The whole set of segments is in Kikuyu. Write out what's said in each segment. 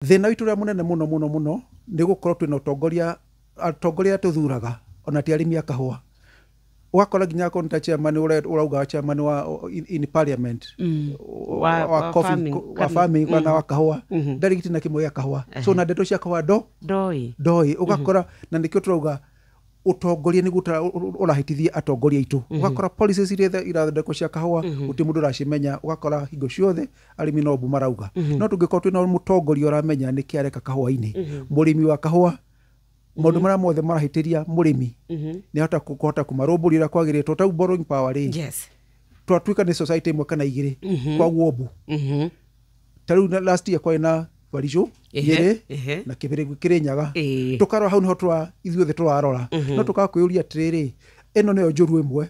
Thĩna witũ ũrĩa mũnene mũno mũno mũno nĩ gũkorwo twĩna ũtongoria atongoria arĩa tũthuraga ona ti arĩmi a kahũa ũgakora nginya akorwo nĩ ta chairman ũre- ũrauga chairman wa in, in parliament Mm. wa, Wa- wa, wa coffee, farming, ko- wa farming kana wa kahũa Mhm. ndarĩ giti na kĩmwe gĩa kahũa so na ndeto cia kahũa ndo ndoĩ ndoĩ ũgakora na nĩkĩo tũrauga ũtongoria nĩguo ũtara- ũ- ũ- ũrahĩtithia atongoria aitũ ũgakora policies iria ithe- irathondekwo cia kahũa gũtirĩ mũndũ ũracimenya ũgakora hingo ciothe arĩmi no ũbu marauga mhm. no tũngĩkorwo twĩna mũtongoria ũramenya nĩkĩ areka kahũa-inĩ mhm. mũrĩmi wa kahũa maundu mhm. maria mothe marahitiria murimi ni hota kuhota kumarumburia uria kwagirire to tau borrowing power ri yes twatuika ni society imwe kana igiri kwa guombu tariu last year kwari na barijo yere na kibiri kiri nyaga tukarora hau niho twa ithuothe turarora no tukakwiyuria atiriri ino niyo njuru imwe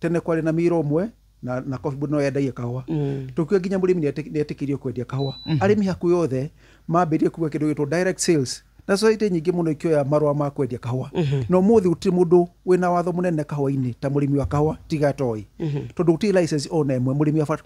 tene kwarĩ na mira ũmwe na, na coffee board no yendagia kahũa mm. tũkiuga nginya mũrĩmi nĩetĩkĩrio kwendia kahũa mm. arĩmi hakuhĩ yothe mambĩrie kuga kĩndũ gĩtwo direct sales na society nyingĩ mũno ikioya marũa ma kwendia kahũa mm -hmm. na ũmũthĩ gũtirĩ mũndũ wĩna watho mũnene kahũa-inĩ ta mũrĩmi wa kahũa tiga toĩ mm -hmm. tondũ gũtirĩ license ona ĩmwe mũrĩmi wa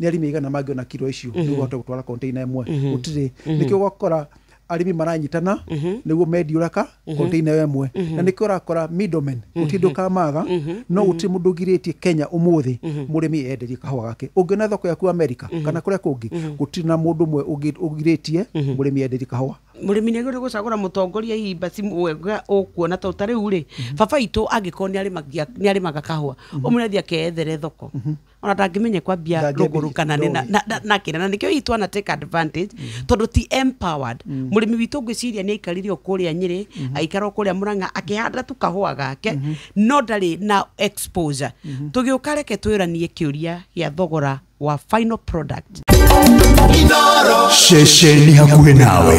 nä arimi aigana mangä ona kiro icio nä guo gutwara container ĩmwe gũtirĩ nĩkĩo ũgakora arĩmi maranyitana nĩguo mendiũraka container ĩyo ĩmwe na nĩkĩo ũrakora middlemen gũtirĩ ndũkamaga no gũtirĩ mũndũ ũgirĩtie kenya ũmũthĩ mũrĩmi enderie kahũa gake ũngĩona thoko yaku amerika kana kũrĩa kũngĩ gũtirĩ na mũndũ ũmwe ũngĩ- ũgirĩtie mũrĩmi enderie kahũa mũrĩmi nä agä rä gwäcagå ra må tongoria imba wega å kuona tondå ta rä u rä baba itå angä korwo nä arä maga kahå a å må rä athi akeethere thoko ona ndangĩmenye kwambia Ndangĩambia rũgũrũ kana nĩ na- ndũĩ. na- na- na kĩna na nĩkĩo hihi twana take advantage tondũ ti empowered mũrĩmi witũ ngwĩciria nĩ aikarire o kũrĩa nyĩrĩ aikara o kũrĩa mũrang'a akĩhanda tu kahũa gake no ndarĩ na exposure tũgĩũka reke twĩranie kĩũria gĩa thogora wa final product Inoro. ceceni hakuhĩ nawe